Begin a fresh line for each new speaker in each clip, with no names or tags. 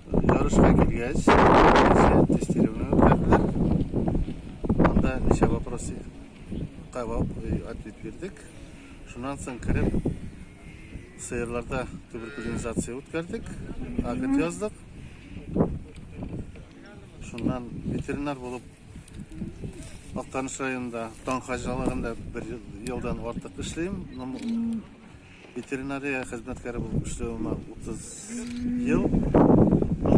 Ярышка килгәч, тестирование үткәрделәр. Анда ничә вопросы кабап ответ бирдек. Шуннан соң кереп сыерларда туберкулинизация үткәрдек, акт яздык. Шуннан ветеринар булып Актаныш районында таң хаҗалыгында бер елдан артык эшлим. Ветеринария хезмәткәре булып эшләвемә 30 ел. Ну,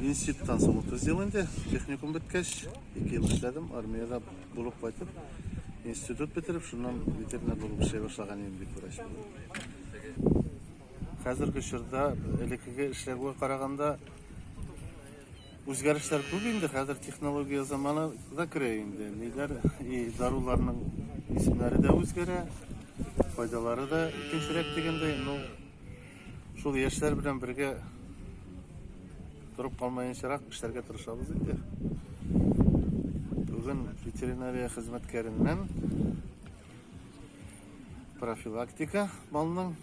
институттан соң 30 ел инде. Техникум беткәч, 2 ел эшләдем. Армиядә булып кайтып, институт бетереп, шуннан ветеринар булып эшли башлаган идем бит врач. Хәзерге чорда элеккеге эшләгүгә караганда Үзгәрешләр күп инде, хәзер технология заманы да керә инде. Ниләр, и даруларның исемнәре дә үзгәрә, файдалары да икенчерәк дигәндәй. Ну, шул яшьләр белән бергә торып калмаенчарак эшләргә тырышабыз инде. Бүген ветеринария хезмәткәреннән профилактика малның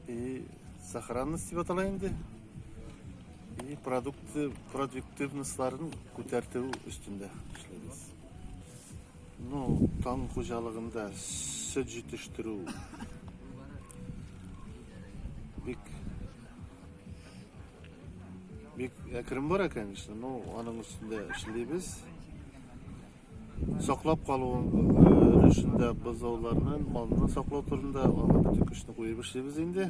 и сохранность дип атала инде. И продукты, продуктивностларын күтәртү өстендә эшлибез. Ну, таң хуҗалыгында сөт җитештерү бик бик әкрен бара, конечно, но аның өстендә эшлибез. Саклап калу өлешендә бозауларны, малны саклау турында аңа бөтен көчне куеп эшлибез инде.